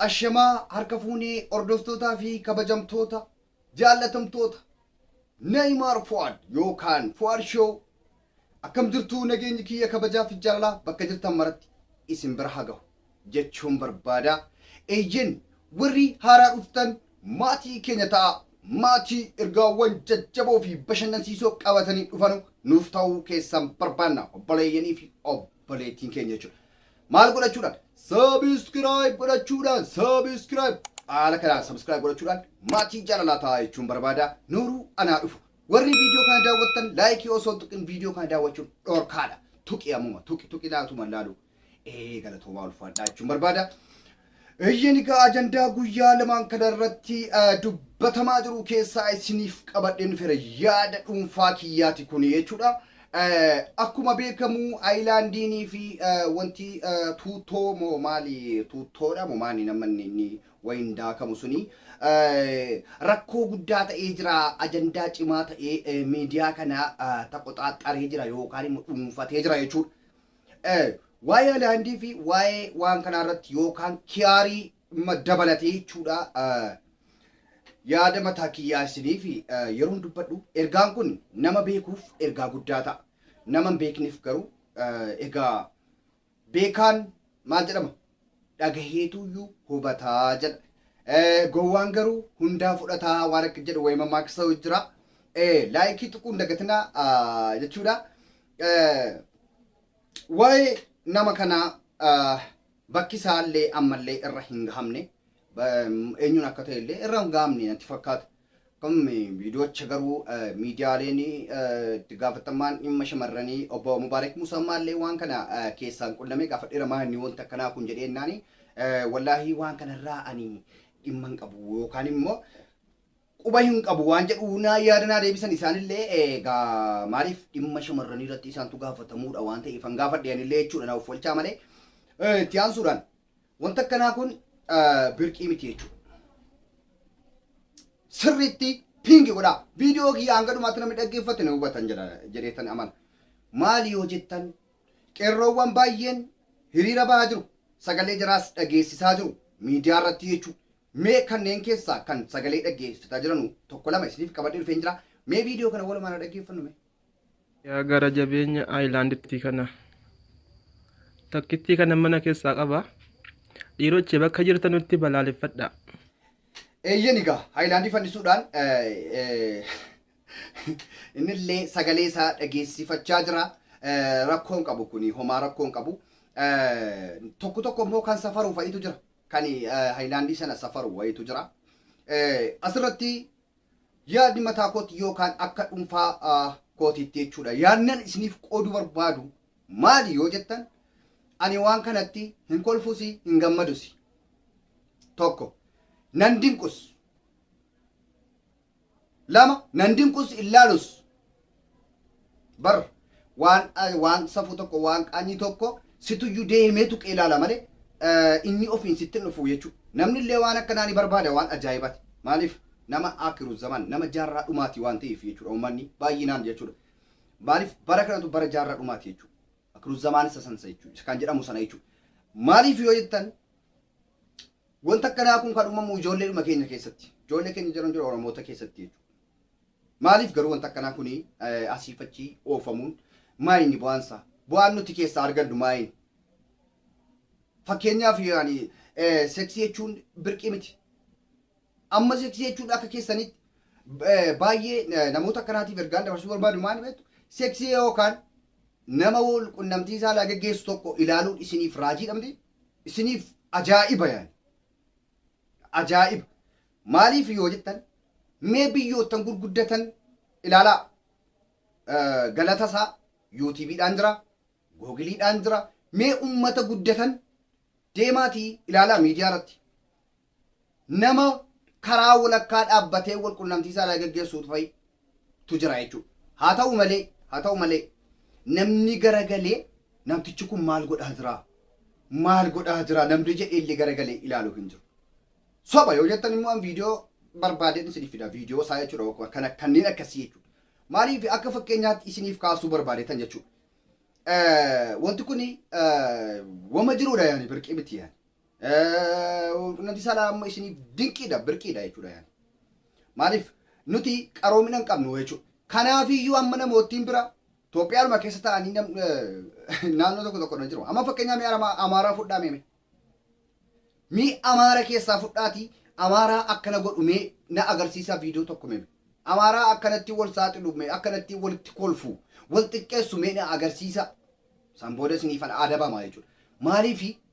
Ashamaa harka fuunee hordoftootaa fi kabajamtoota jaallatamtoota Neeymaar Fuwaad yookaan Fuwaad Shoo akkam jirtu nageenyi kiyya kabajaa fi jaalalaa bakka jirtan maratti isin bira haa gahu. jechuun barbaada. Eeyyeen warri haaraa dhuftan maatii keenya ta'aa. Maatii ergaawwan jajjaboo fi bashannansiisoo qabatanii dhufanu nuuf ta'uu keessan barbaanna. Obboleeyyanii fi obboleettiin keenya jechuudha. Maal godhachuudhaan? Subscribe godhachuudhaan, subscribe. Haala kanaan subscribe godhachuudhaan maatii jaalalaa ta'aa jechuun barbaada. Nooruu anaa dhufu. Warri viidiyoo kana daawwattan laayikii osoo hin tuqin viidiyoo kana daawwachuun dhorkaadha. Tuqi ammuma, tuqi, tuqi laatuma laaluu. Ee galatoomaa ulfaadhaa jechuun barbaada. Eeyyeen egaa ajandaa guyyaa lamaan kana irratti dubbatamaa jiru keessaa isiniif qabadheen fira yaada dhuunfaa kiyyaati kun jechuudha. Akkuma beekamu ayilaandiinii fi wanti tuuttoo moo maali tuuttoodha moo maali nama inni wayiin daakamu suni rakkoo guddaa ta'ee jira ajandaa cimaa ta'ee miidiyaa kana taqoxaaxaree jira yookaan immoo dhuunfatee jira jechuudha. Waa'ee Alihaandii fi waa'ee waan kanaa irratti yookaan kiyaarii ma- dabalatee jechuudha eh, yaada mataa kiyyaa isiniif eh, yeroon dubbadhu ergaan kun nama beekuuf ergaa guddaa ta'a. Nama hin beekneef garuu eh, egaa beekaan maal jedhama dhagaheetuuyyuu hubata jedha. Gowwaan garuu hundaa fudhata waan akka jedhu wayii mammaaksa jira. Laayikii tuquu hin dagatina jechuudha. Waa'ee nama kanaa bakki isaallee ammallee irra hin gahamne eenyuun akka ta'e illee irra hin gahamne natti fakkaata. Kun viidiyoocha garuu miidiyaaleen itti gaafatammaan dhimma shamarranii obbo Mubaarak Muusaa ammaallee waan kana keessaan qunnamee gaafadheera maanni wanti akkanaa kun jedhee jennaani wallaahii waan kanarraa ani dhimma hin qabu yookaan immoo quba hin qabu waan jedhu naa yaada naa deebisan isaanillee egaa maaliif dhimma shamarranii irratti isaantu gaafatamuudha waan ta'eef an gaafadhe anillee jechuudha na offolchaa malee itti aansuudhaan Wanta akkanaa kun birqii miti jechuudha. Sirriitti piingi godhaa. Viidiyoo kiyya hanga dhumaatti namni dhaggeeffate na hubatan jedha jedheetan amana. Maali yoo jettan qeerroowwan baay'een hiriira bahaa jiru. Sagalee jaraas dhageessisaa jiru. Miidiyaa irratti jechuudha. Mee kanneen keessaa kan sagalee dhaggeessifataa jiranu tokko lama isiniif qabadhee dhufeen jira. Mee viidiyoo kana walumaan haa dhaggeeffannu mee. Yaa gara jabeenya aayilaandittii kana. Takkittii kana mana keessaa qaba. Dhiirochi bakka jirtanutti balaaleffadhaa. Eeyyen egaa Haayilaandii fannisuudhaan innillee sagalee isaa dhageessifachaa jira. Rakkoon qabu kuni homaa rakkoon qabu. Tokko tokko immoo kan safaru fa'itu jira. Kan Haayilaandii sana safaru wayitu jira. Asirratti Yaadni mataa kootti yookaan akka dhunfaa kootiitti jechuudha. Yaadnan isiniif qooduu barbaadu maali yoo jettan ani waan kanatti hin kolfusi hin gammadusi. Tokko nan dinqus. Lama nan dinqus illaalus. bar waan waan safuu tokko waan qaanii tokko situyyuu deemee tuqee ilaala malee inni ofiin sitti dhufu jechuudha. Namni illee waan akkanaa ni barbaada waan ajaa'ibaati. Maaliif nama akiru zaman nama jaarraa dhumaati waan ta'eef jechuudha uummanni baay'inaan jechuudha. Maaliif bara kanatu bara jaarraa dhumaati jechuudha. Akiru zamaan isa sansa jechuudha. Kan jedhamu sana jechuudha. Maaliif yoo jettan wanta akkanaa kun kan uumamu ijoolleedhuma keenya keessatti. Ijoollee keenya jiran jiru Oromoota keessatti jechuudha. Maaliif garuu wanti akkanaa kuni asiif achi oofamuun maayini bu'aan isaa? Bu'aan nuti keessaa argannu maayini? Fakkeenyaaf yaani seksii jechuun birqii miti. Amma seksii jechuun akka keessanitti baay'ee namoota akkanaatiif ergaan dabarsuu barbaadu maali beektu? Seksii yookaan nama wal qunnamtii saalaa geggeessu tokko ilaaluun isiniif raajiidha miti? Isiniif ajaa'iba yaani. Ajaa'iba! Maaliif yoo jettan mee biyyoottan gurguddatan ilaalaa. Galata isaa YouTube dhaan jira, Google dhaan jira. Mee ummata guddatan deemaatii ilaalaa miidiyaa irratti. Nama karaa walakkaa dhaabbatee wal qunnamtii isaa irraa geggeessuutu fa'i tu jira jechuudha. Haa ta'u malee, haa ta'u malee namni garagalee namtichi kun maal godhaa jiraa? Maal godhaa jiraa? Namni jedhee illee garagalee ilaalu hin jiru. Soba yoo jettan immoo an viidiyoo barbaadeen isiniif fida. Viidiyoo isaa jechuudha akkuma kana kanneen akkasii jechuudha. Maaliif akka fakkeenyaatti isiniif kaasuu barbaadeetan jechuudha. Eh, Wanti kun eh, wama jiruudha yaani birqii miti yaani. Nuti salaa amma isiniif dinqiidha, birqiidha jechuudha yaani. Maaliif nuti qaroomina hin qabnu jechuudha. Kanaafiyyuu amma namoottiin bira Itoophiyaanuma keessa ta'anii naannoo tokko tokko irra jiru. Amma fakkeenyaa mee Amaaraa fudhaa mee. Mee Amaara keessaa fudhaatii Amaaraa akkana godhu mee na agarsiisaa viidiyoo tokko mee. Amaaraa akkanatti wal saaxilu mee akkanatti walitti kolfu wal xiqqeessu mee na agarsiisaa. San booda isiniifan adabamaa jechuudha. Maaliifi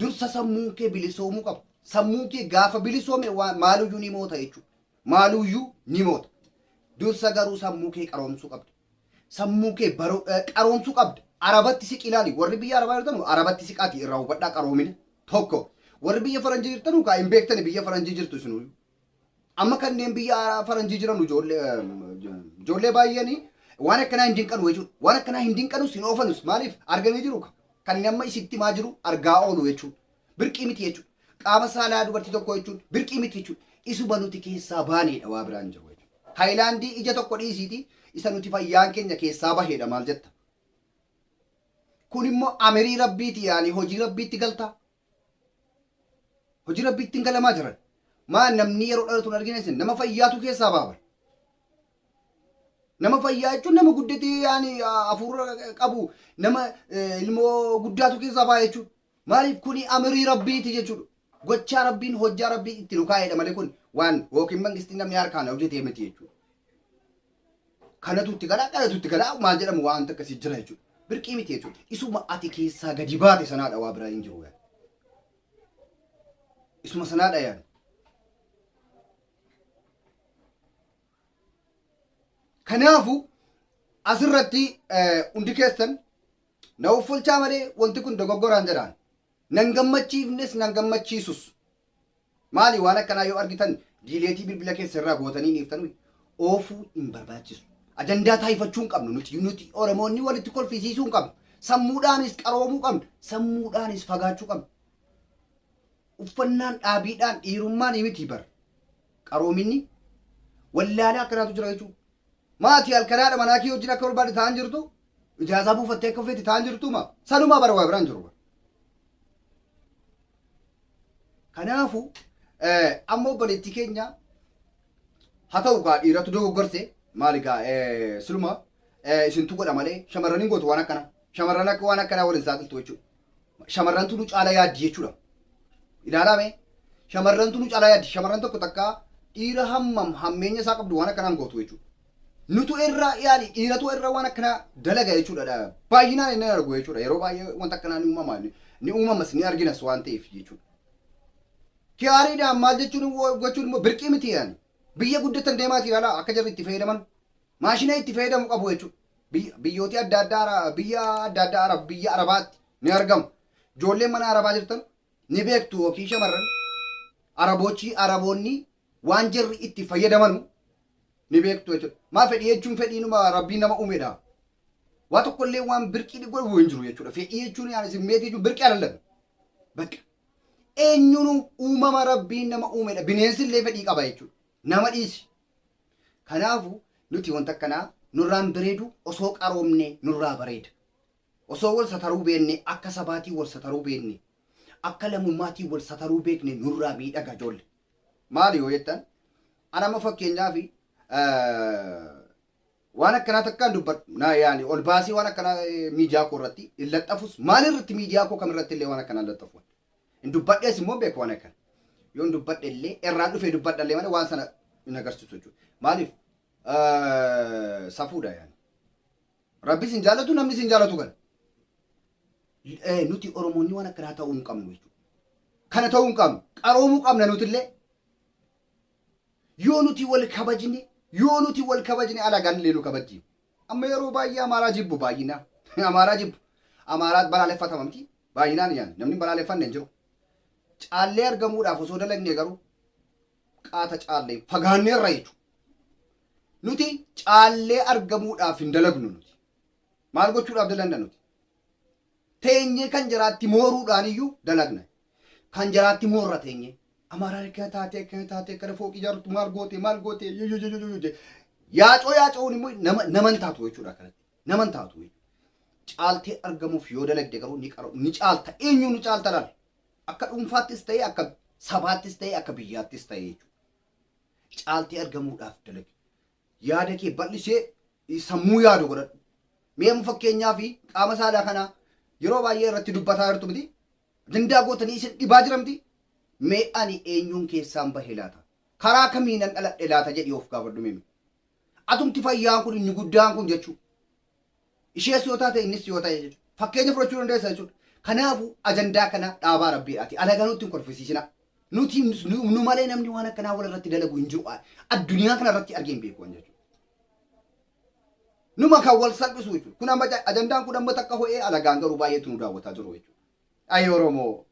Dursa sammuun kee bilisoomuu qaba. Sammuun kee gaafa bilisoome waan maaluyyuu ni moota jechuudha. Maaluyyuu ni moota. Dursa garuu sammuu kee qaroomsuu qabda. Sammuu kee baroo eh, qaroomsuu qabda. Arabatti siqi ilaali. Warri biyya Arabaa jirtanu Arabatti siqaati irraa hubadhaa qaroomina. Tokko. Warri biyya Faranjii jirtanu kaa hin beektani biyya Faranjii jirtu isinuyyuu. Amma kanneen biyya haaraa faranjii jiranu ijoollee ijoollee baay'een waan akkanaa hin dinqanu jechuudha. Waan akkanaa hin dinqanus hin oofanus maaliif arganii jiru ka. Kan inni amma isitti himaa jiru argaa oolu jechuudha. Birqii miti jechuudha. Qaama saalaa dubartii tokkoo jechuudha. Birqii miti jechuudha. Isuma nuti keessaa baaneedha waa biraan hin jiru jechuudha. Haayilaandii ija tokko dhiisiiti isa nuti fayyaan keenya keessaa baheedha maal jetta. Kun immoo amirii rabbiiti yaani hojii rabbiitti galtaa. Hojii rabbii ittiin galamaa jiran. Maa namni yeroo dhalatu hin argine isin nama fayyaatu keessaa baaba. Nama fayyaa jechuun nama guddatee yaani hafuura qabu nama eh, ilmoo guddaatu keessaa baaya jechuudha. Maaliif kuni amirii rabbiiti jechuudha. Gochaa rabbiin hojjaa rabbii itti nu kaa'edha malee kun waan yookiin mangistiin namni harkaan hojjetee miti jechuudha. kanatu itti galaa kanatu itti galaa maal jedhamu waanta akkasii jira jechuudha. Birqii miti jechuudha. Isuma ati keessaa gadi baate sanaadha waa biraa hin jiru yaani. Isuma sanaadha yaani. Kanaafuu asirratti hundi keessan na uffolchaa malee wanti kun dogoggoraan jedhaan. Nan gammachiifnes nan gammachiisus. Maali waan akkanaa yoo argitan diileetii bilbila keessan irraa gootanii dhiiftanui oofuu hin barbaachisu. Ajandaa taayifachuu hin qabnu nuti nuti Oromoonni walitti kolfisiisuu hin qabnu. Sammuudhaanis qaroomuu qabna. Sammuudhaanis fagaachuu qabna. Uffannaan dhaabiidhaan dhiirummaan miti bar. Qaroominni wallaalaa akkanaatu jira jechuudha. Maati halkanaadha manaa kee wajjin akka barbaadde ta'an jirtu Ijaazaa buufattee akka feeti ta'an jirtu maaf? Sanumaa bara waa biraan jiru bara. Kanaafu amma obboleettii keenya haa ta'u kaa dhiiratu dogoggorse maali kaa siluma isintu godha malee shamarran hin gootu waan akkana. Shamarran akka waan akkanaa waliin saaxiltu jechuudha. shamarrantu nu caala yaaddi jechuudha. Ilaalaa mee shamarrantu nu caala yaaddi shamarran tokko takka dhiira hammam hammeenya isaa qabdu waan akkanaan gootu jechuudha. Nutu irraa yaali dhiiratu irra waan akkanaa dalaga jechuudha. dha. Baay'inaan inni argu jechuudha. Yeroo baay'ee wanta akkanaa ni uumama ni ni uumamas ni arginas waan ta'eef jechuudha. Gaariidhaan maal jechuun wo- gochuun immoo birqii miti yaani. Biyya guddatan deemaati ilaalaa akka jarri itti fayyadaman maashina itti fayyadamu qabu jechuudha. Biyya, biyyooti adda addaa, Ara- biyya adda addaa Arab, biyya Arabaatti ni argamu. Ijoolleen mana Arabaa jirtan ni beektu yookiin shamarran Arabochi, Araboonni waan jarri itti fayyadamanu ni beektu jechuudha. Maa fedhii jechuun fedhiinuma Rabbiin nama uumedha. Waa tokkollee waan birqii ni godhu hin jiru jechuudha. Fedhii jechuun yaani simmeetii jechuun birqii alallan. Bakka. Eenyuun uumama Rabbiin nama uumedha. Bineensi illee fedhii qaba jechuudha. Nama dhiisi. Kanaafu nuti wanta akkanaa nurraa hin bereedu osoo qaroomne nurraa bareeda. Osoo wal sataruu beenne akka sabaatii wal sataruu beenne akka lamummaatii wal sataruu beekne nurraa miidhaga ijoolle. Maali yoo jettan an amma fakkeenyaaf waan akkanaa takkaan dubbadhu na yaani ol baasii waan akkanaa miidiyaa koo irratti hin laxxafus maal irratti miidiyaa koo kam irratti illee waan akkanaa hin laxxafu. Hin dubbadhees immoo hin beeku waan akkana. Yoon dubbadhe illee irraan dhufee dubbadha illee malee waan sana hin agarsiisu jechuudha. Maaliif? Eh, Safuudha yaani. Rabbis hin jaalatu namnis hin jaalatu kana. Eh, Nuti Oromoonni waan akkanaa ta'uu hin qabnu jechuudha. Kana ta'uu hin qabnu. Qaroomuu qabna nuti illee. Yoo nuti wal kabajne yoo nuti wal kabajne alagaan illee nu kabajji. Amma yeroo baay'ee Amaaraa jibbu baay'inaan. Amaaraa jibbu. Amaaraa balaaleffatama miti. Baay'inaan yaani. Namni hin balaaleffanne hin jiru. Caallee argamuudhaaf osoo dalagnee garuu qaata caallee fagaanneerra jechuudha. Nuti caallee argamuudhaaf hin dalagnu nuti. Maal gochuudhaaf dalagna nuti? teenyee kan jaraatti mooruudhaan iyyuu dalagna. Kan jaraatti moorra teenyee. Amaaraa akkana taatee akkana taatee akkana fooqii ijaartu maal gootee maal gootee yoyoyoyoyo jee. Yaacoo yaaca'uun immoo nama nama hin taatu jechuudha akkanatti. Nama hin taatu jechuudha. Caaltee argamuuf yoo dalagde garuu ni qara ni caalta eenyuu ni caalta laal. Akka dhuunfaattis ta'ee akka sabaattis ta'ee akka biyyaattis ta'ee jechuudha. Caaltee argamuudhaaf dalagi. yaada kee bal'isee eh, sammuu yaadu godhadhu. Mee amma fakkeenyaa fi qaama saalaa kanaa yeroo baay'ee irratti dubbataa jirtu miti. Dandaa gootanii isin dhibaa jira miti. Mee ani eenyuun keessaan bahe laata? Karaa kamiinan dhaladhe laata jedhii of gaafadhu mimi. Atumti fayyaan kun inni guddaan kun jechuu. Ishees yoo taate innis yoo ta'e jechuudha. Fakkeenya fudhachuu dandeessa jechuudha. Kanaafuu ajandaa kana dhaabaa rabbiidhaati. Alagaa nutti hin kolfisiisinaa. Nuti nu nu malee namni waan akkanaa wal irratti dalagu hin jiru. Addunyaa kana irratti argee hin beeku waan jechuudha. Numa kan wal salphisu jechuudha. Kun amma ajandaan kun amma takka ho'ee alagaan garuu baay'eetu nu daawwataa jiru jechuudha. Ayii Oromoo!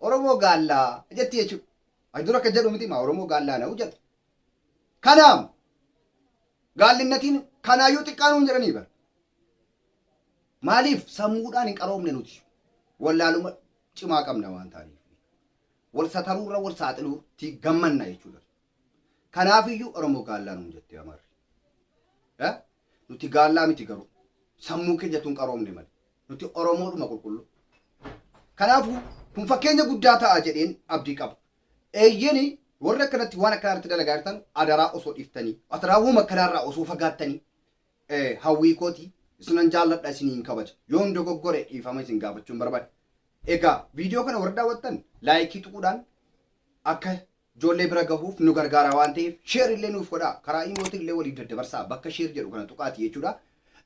Oromoo gaallaa jetti jechuudha. Ani dura akka jedhu miti maa Oromoo gaallaa na'u jedha. Kanaam gaallinnatiin kanaayyuu xiqqaa nuun jedhanii bara. Maaliif sammuudhaan hin qaroomne nuti wallaaluma cimaa qabna waan taaniif. Wal sataruurra wal saaxiluutti gammanna jechuudha. Kanaafiyyuu Oromoo gaallaa nuun jette Amarri. Eh? Nuti gaallaa miti garuu. Sammuu keenyatu hin qaroomne malee. Nuti Oromoodhuma qulqulluu. Kanaafuu kun fakkeenya guddaa ta'a jedheen abdii qaba. Eeyyeni warri akkanatti waan akkanaa irratti dalagaa jirtan adaraa osoo dhiftanii adaraa wama akkanaa irraa osoo fagaattanii eh, hawwii kooti isinan jaalladha isiniin kabaja. Yoon dogoggore dhiifama isin gaafachuun barbaada. Egaa viidiyoo kana warri daawwattan laayikii tuquudhaan akka Ijoollee bira gahuuf nu gargaara waan ta'eef share illee nuuf godhaa. Karaa iimootiin illee waliif daddabarsaa. Bakka share jedhu kana tuqaati jechuudha.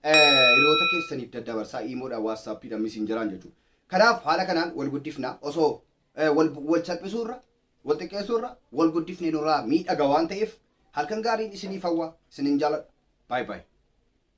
Hiriyoota keessaniif daddabarsaa iimoodhaan, waatsaappiidhaan, misinjaraan jechuudha. Kanaaf haala kanaan wal guddifna. Osoo wal salphisuu irra, wal xiqqeessuu irra wal guddifne nurraa miidhaga waan ta'eef halkan gaariin isiniif hawwa. Isinin jaaladha. Bye bye.